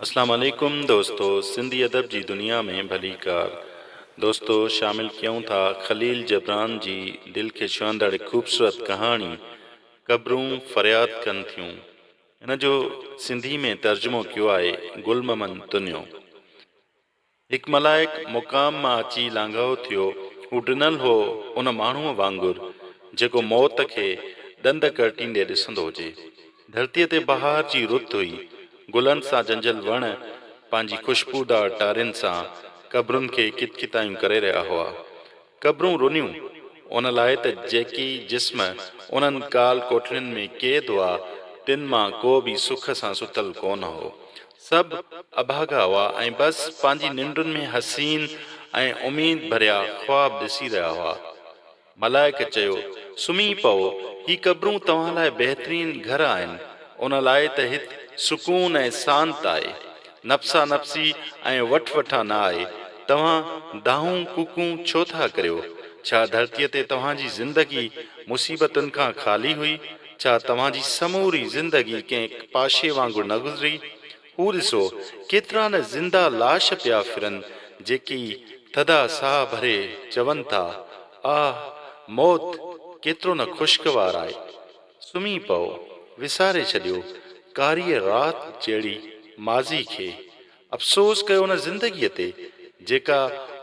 اسلام عليڪم دوستو سنڌي ادب جي دنيا ۾ ڀليڪار دوستو شامل ڪيون ٿا خليل جبران جي دل کي ڇهندڙ هڪ خوبصورت ڪهاڻي قبرون فرياد ڪن ٿيون ان جو سنڌي ۾ ترجمو ڪيو آهي گل ممن تنيو هڪ ملائڪ مقام مان اچي لانگهائو ٿيو، هو ڊنل هو ان ماڻهوء وانگر، جيڪو موت کي ڏند ڪرٽيندي ڏسندو هجي. ڌرتيء تي بهار جي رت هئي، گلن سان جنجهيل وڻ پنهنجي خوشبودار ٽارين سان قبرن کي ڪتڪتايون ڪري رهيا هئا. قبرون رنيون، ان لاء ته جيڪي جسم انهن ڪال ڪوٺڙين ۾ قيد هئا، تن مان ڪو به سک سان ستل ڪونه هو. سڀ اڀاڳا هئا ۽ بس پنهنجي ننڊن ۾ حسين ۽ اميد ڀريا خواب ڏسي رهيا هئا. ملائڪ چيو، سمهي پئو، هي قبرون توهان لاء بهترين گهر آهن، ان لاء ته هت سڪون ۽ سانت آهي. نفسا نفسي ۽ وٺ وٺان نه آهي، توهان دانهون ڪوڪون ڇو ٿا ڪريو؟ ڇا ڌرتيء تي توهان جي زندگي مصيبتن کان خالي هئي؟ ڇا توهان جي سموري زندگي ڪنهن پاشي وانگر نه گذري؟ هو ڏسو، ڪيترا نه زنده لاش پيا ڦرن، جيڪي ٿڌا ساهه ڀري چون ٿا، آه! موت ڪيترو نه خوشگوار آهي. سمهي پئو، وساري ڇڏيو ڪاريء رات جهڙي ماضيء کي. افسوس ڪيو ان زندگيء تي، جيڪا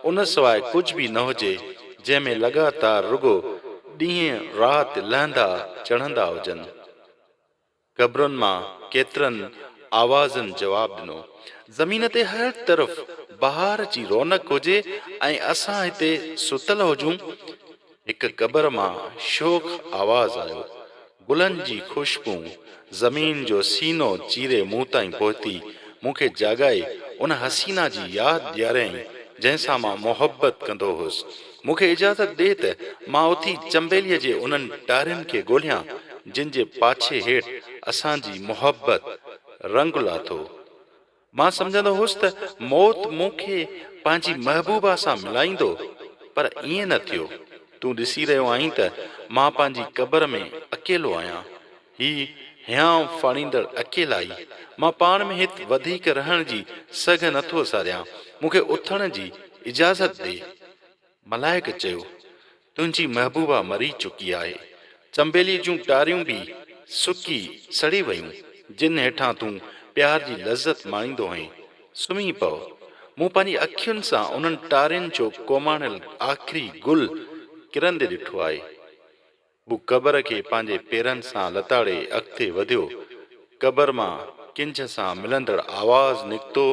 ان سواء ڪجهه به نه هجي، جنهن ۾ لڳاتار رڳو ڏينهن رات لهندا چڙهندا هجن. قبرن مان ڪيترن آوازن جواب ڏنو. زمين تي هر طرف بهار جي رونق هجي ۽ اسان هتي ستل هجون. هڪ قبر مان شوخ آواز آيو. گلن جي خوشبو زمين جو سينو چيري مون تائين پهتي، مون کي جاڳائي ان حسينه جي ياد ڏياريائين، جنهن سان مان محبت ڪندو هوس. مون کي اجازت ڏي ته مان اٿي چنبيلي جي انهن ٽارين کي ڳوليان، جن جي پاڇي هيٺ اسان جي محبت رنگ لاٿو. مان سمجهندو هوس ته موت مون کي پنهنجي محبوبا سان ملائيندو، پر ائين نه ٿيو. تون ڏسي رهيو آهين ته مان پنهنجي قبر ۾ اڪيلو آهيان. هي هيانء ڦاڙيندڙ اڪيلائي. مان پاڻ ۾ هت وڌيڪ رهڻ جي سگهه نه ٿو ساريان. مون کي اٿڻ جي اجازت ڏي. ملائڪ چيو، تنهنجي محبوبا مري چڪي آهي، چنبيلي جون ٽاريون به سڪي سڙي ويون، جن هيٺان تون پيار جي لذت ماڻيندو هئين، سمهي پؤ. مون پنهنجي اکين سان انهن ٽارين جو ڪوماڻيل آخري گل ڪرندي ڏٺو آهي. هو قبر کي پنهنجي پيرن سان لتاڙي اڳتي وڌيو. قبر مان ڪنجهه سان ملندڙ آواز نڪتو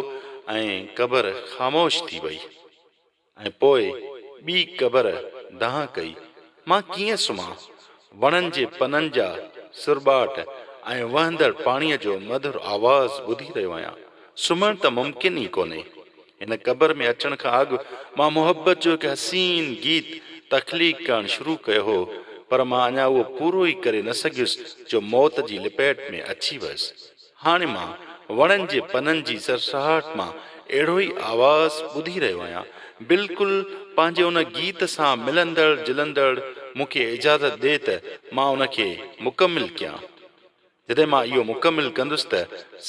۽ قبر خاموش ٿي وئي. ۽ پوء ٻي قبر دانهن ڪئي، مان ڪيئن سمهان؟ وڻن جي پنن جا سرٻاٽ ۽ وهندڙ پاڻيء جو مڌر آواز ٻڌي رهيو آهيان. سمهڻ ته ممڪن ئي ڪونهي. هن قبر ۾ اچڻ کان اڳ مان محبت جو هڪ حسين گيت تخليق ڪرڻ شروع ڪيو هو، پر مان اڃا اهو پورو ئي ڪري نه سگهيس جو موت جي لپيٽ ۾ اچي ويس. هاڻي مان وڻن جي پنن جي سرسراهٽ مان اهڙو ئي آواز ٻڌي رهيو آهيان، بلڪل پنهنجي ان گيت سان ملندڙ جلندڙ، مون کي اجازت ڏي ته مان ان کي مڪمل ڪيان. جڏهن مان اهو مڪمل ڪندس ته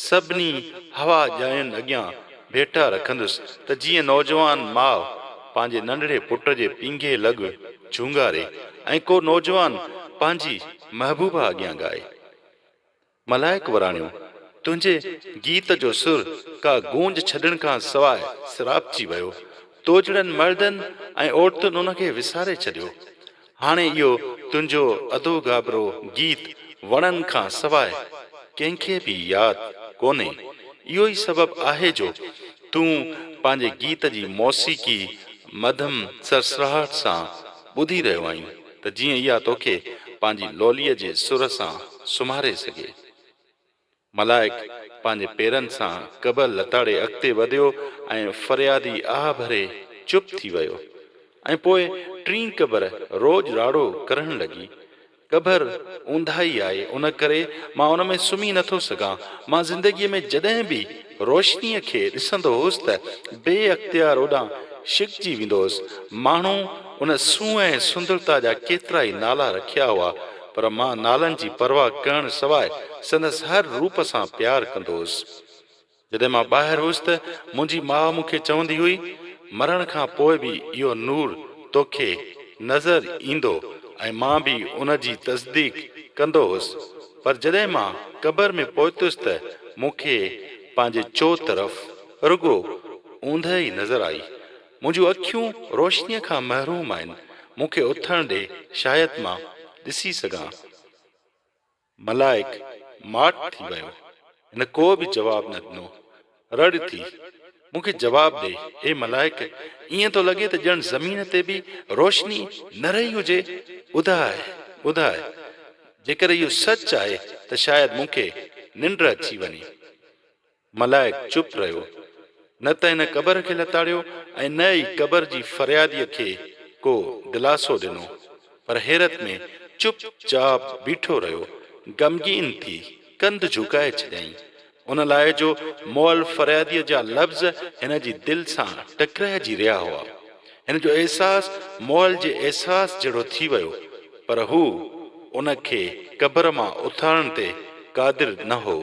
سڀني هوا ڄائين اڳيان ڀيٽا رکندس ته جيئن نوجوان ماء پنهنجي ننڍڙي پٽ جي پينگهي لڳ جهونگاري ۽ ڪو نوجوان پنهنجي محبوبه اڳيان ڳائي. ملائڪ وراڻيو، تنهنجي گيت جو سر ڪا گونج ڇڏڻ کان سواء سراپجي ويو. توجھڙن مردن ۽ عورتن ان کي وساري ڇڏيو. هاڻي اهو تنهنجو اڌو گابرو گيت وڻن کان سواء ڪنهن کي به ياد ڪونهي. اهو ئي سبب آهي جو تون پنهنجي گيت جي موسيقي مڌم سرسراهٽ سان ٻڌي رهيو آهين. ته جيئن اها توکي پنهنجي لوليء جي سر سان سمهاري سگهي. ملائڪ پنهنجي پيرن سان قبر لتاڙي اڳتي وڌيو ۽ فريادي آهه ڀري چپ ٿي ويو ۽ پوء ٽين قبر روڄ راڙو ڪرڻ لڳي، قبر اونداهي آهي ان ڪري مان ان ۾ سمهي نٿو سگهان، مان زندگيء ۾ جڏهن به. روشنيء کي ڏسندو هوس ته بي اختيار اوڏانهن ڇڪجي ويندو هوس. ماڻهو ان سونهن ۽ سندرتا جا ڪيترائي نالا رکيا هئا، پر مان نالن جي پرواهه ڪرڻ سواء سندس هر روپ سان پيار ڪندو هوس. جڏهن مان ٻاهر هوس ته منهنجي ماء مون کي چوندي هئي، مرڻ کان پوء به اهو نور توکي نظر ايندو ۽ مان به ان جي تصديق ڪندو هوس. پر جڏهن مان قبر ۾ پهتس ته مون کي پنهنجي چوطرف رڳو اوندهه ئي نظر آئي. منهنجون اکيون روشنيء کان محروم آهن، مون کي اٿڻ ڏي شايد مان ڏسي سگهان. ملائڪ ماٺ ٿي ويو. هن ڪو به جواب نه ڏنو. رڙ ٿي، مون کي جواب ڏي، اي ملائڪ! ائين ٿو لڳي ته ڄڻ زمين تي به روشني نه رهي هجي. ٻڌاء، ٻڌاء، جيڪر اهو سچ آهي ته شايد مون کي ننڊ اچي وڃي. ملائڪ چپ رهيو. نه ته هن قبر کي لتاڙيو ۽ نه ئي قبر جي فرياديء کي ڪو دلاسو ڏنو، پر حيرت ۾ چپ چاپ بيٺو رهيو. غمگين ٿي ڪنڌ جهڪائي ڇڏيائين. ان لاء جو مئل فرياديء جا لفظ هن جي دل سان ٽڪرائجي رهيا هئا. هن جو احساس مئل جي احساس جهڙو ٿي ويو، پر هو ان کي قبر مان اٿارڻ تي قادر نه هو.